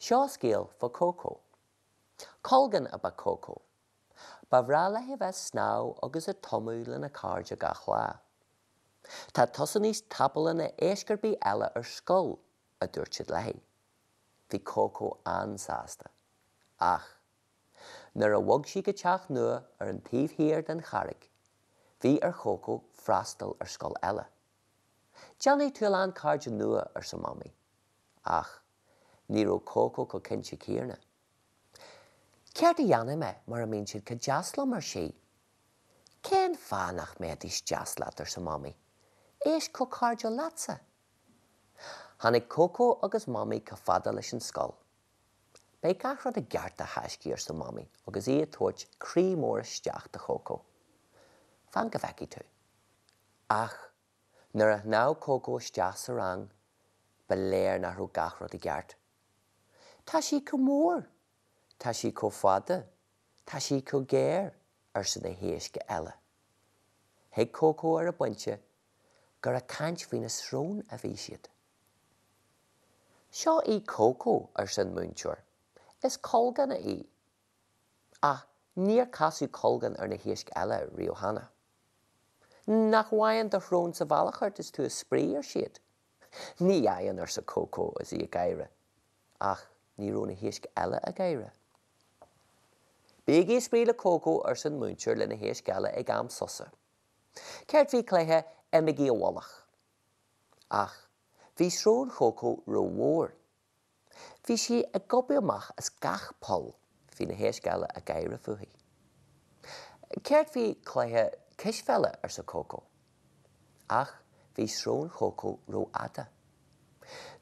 Seo scéal faoi Cócó. Colgán ab ea Cócó. Ba bhreá léi a bheith ag snámh agus ag tumadh lena cairde gach lá. Tá tusa níos tapúla ná iasc ar bith eile ar scoil, a dúirt siad léi. Bhí Cócó an-sásta. Ach, nuair a bhog sí go teach nua ar an taobh thiar den charraig, bhí ar Chócó freastal ar scoil eile. Déanfaidh tú a lán cairde nua, arsa Mamaí. Ach, ní raibh Cócó chomh cinnte céanna. Céard a dhéanfaidh mé mura mbíonn siad chomh deas liom? ar sí. Cén fáth nach mbéidís deas leat? arsa Mamaí. Iasc chomh cairdiúil leatsa. Tháinig Cócó agus Mamaí chomh fada leis an scoil. Beidh gach rud i gceart, a thaiscí, arsa Mamaí agus í ag tabhairt croí mór isteach do Chócó. Fan go bhfeicfidh tú. Ach nuair a shnámh Cócó isteach sa rang, ba léir nach raibh gach rud i gceart. Tá sí chomh mór! Tá sí chomh fada! Tá sí chomh géar! arsa na héisc eile. Thuig Cócó ar an bpointe gur ag caint faoina srón a bhí siad. Seo í Cócó, arsa an múinteoir. Is colgán í. Ach níor casadh colgán ar na héisc eile riamh cheana. Nach bhfaigheann do shrón sa bhealach ort is tú ag spraoi, ar siad. Ní fhaigheann, arsa Cócó is í ag gáire. Ach ní raibh na héisc eile ag gáire. Bígí ag spraoi le Cócó, arsa an múinteoir leis na héisc eile ag am sosa. Céard faoi chluiche imigí i bhfolach? Ach bhí srón Chócó rómhór. Bhí sí ag gobadh amach as gach poll. Bhí na héisc eile ag gáire fúithi. Céard faoi chluiche cispheile? arsa Cócó. Ach bhí srón Chócó rófhada.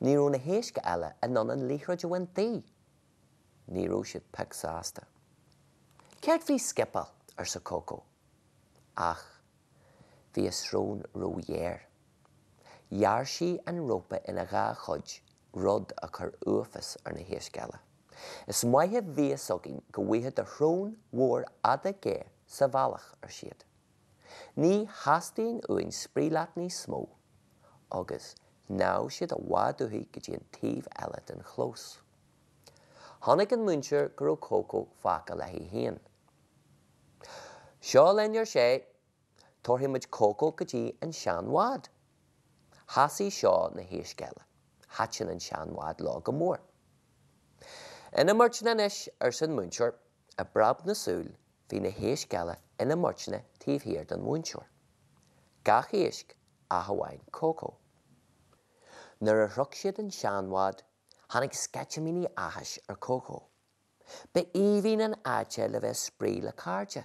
Ní raibh na héisc eile in ann an liathróid a bhaint di. ní raibh siad pioc sásta. Céard faoi scipeáil? arsa Cócó. Ach bhí a srón róghéar. Ghearr sí an rópa ina dhá chuid, rud a chuir uafás ar na héisc eile. Is maith a bhí a fhios againn go bhfaigheadh do shrón mhór fhada ghéar sa bhealach, ar siad. Ní theastaíonn uainn spraoi leat níos mó. Agus, shnámh siad i bhfad uathi go dtí an taobh eile den chlós. Chonaic an múinteoir go raibh Cócó fágtha léi féin. Seo linn, ar sé, tabharfaidh muid Cócó go dtí an seanbhád. Shásaigh seo na héisc eile. Thaitin an seanbhád leo go mór. Ina mbeirteanna anois, arsa an múinteoir, i bpreab na súl bhí na héisc eile ina mbeirteanna taobh thiar den mhúinteoir. Gach éisc ach amháin Cócó. Nuair a shroich siad an seanbhád Tháinig sceitimíní áthais ar Cócó. Ba aoibhinn an áit é le bheith ag spraoi le cairde.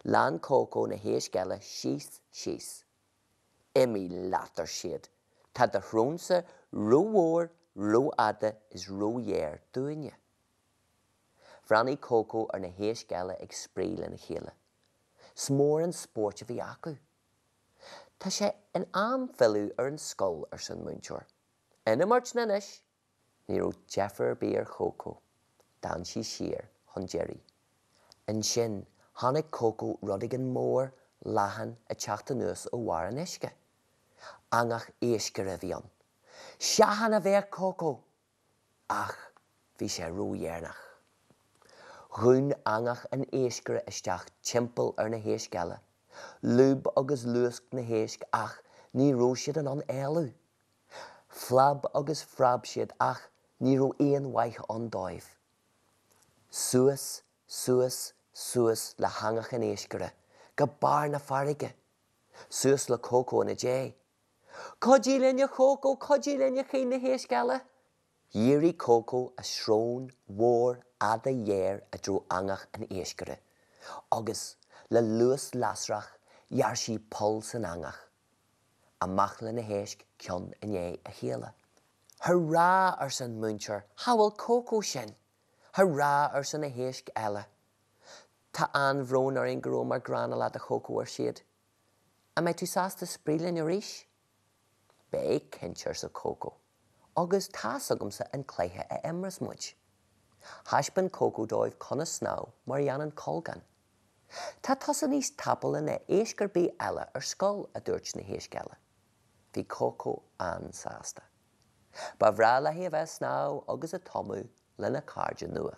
Lean Cócó na héisc eile síos, síos. Imí leat, ar siad, tá do shrón-sa rómhór, rófhada is róghéar dúinne. Bhreathnaigh Cócó ar na héisc eile ag spraoi lena chéile. 'S mór an spórt a bhí acu. Tá sé in am filleadh ar an scoil, arsa an múinteoir. Ina mbeirteanna anois, ní raibh deifir ar bith ar Chócó, d'fhan sí siar chun deiridh. Ansin, chonaic Cócó rud éigin mór, leathan, ag teacht anuas ó bharr an uisce. Eangach iascaire a bhí ann. Seachain, a bhéic Cócó! Ach, bhí sé ródheireanach. Dhún eangach an iascaire isteach timpeall ar na héisc eile. Lúb agus luasc na héisc ach ní raibh siad in ann éalú. Phlab agus phreab siad ach ní raibh aon mhaith ann dóibh. Suas, suas, suas le heangach an iascaire go barr na farraige, suas le Cócó ina ndiaidh. Cuidigí linn a Chócó, cuidigí linn, a chaoin na héisc eile. Dhírigh Cócó a srón mhór fhada ghéar i dtreo eangach an iascaire agus, le luas lasrach, ghearr sí poll san eangach. Amach le na héisc ceann i ndiaidh a chéile. Hurrá! arsa an múinteoir, shábháil Cócó sinn! Hurrá! arsa na héisc eile. Tá an-bhrón orainn go rabhamar gránna leat a Chócó ar siad. An mbeidh tú sásta spraoi linn arís? Beidh, cinnte arsa Cócó. Agus tá's agamsa an cluiche a imreos muid. Thaispeán Cócó dóibh conas snámh mar a dhéanann colgán. Tá tusa níos tapúla ná iasc ar bith eile ar scoil, a dúirt na héisc eile. Bhí Cócó an-sásta. Ba bhreá léi a bheith ag snámh agus ag tumadh lena cairde nua.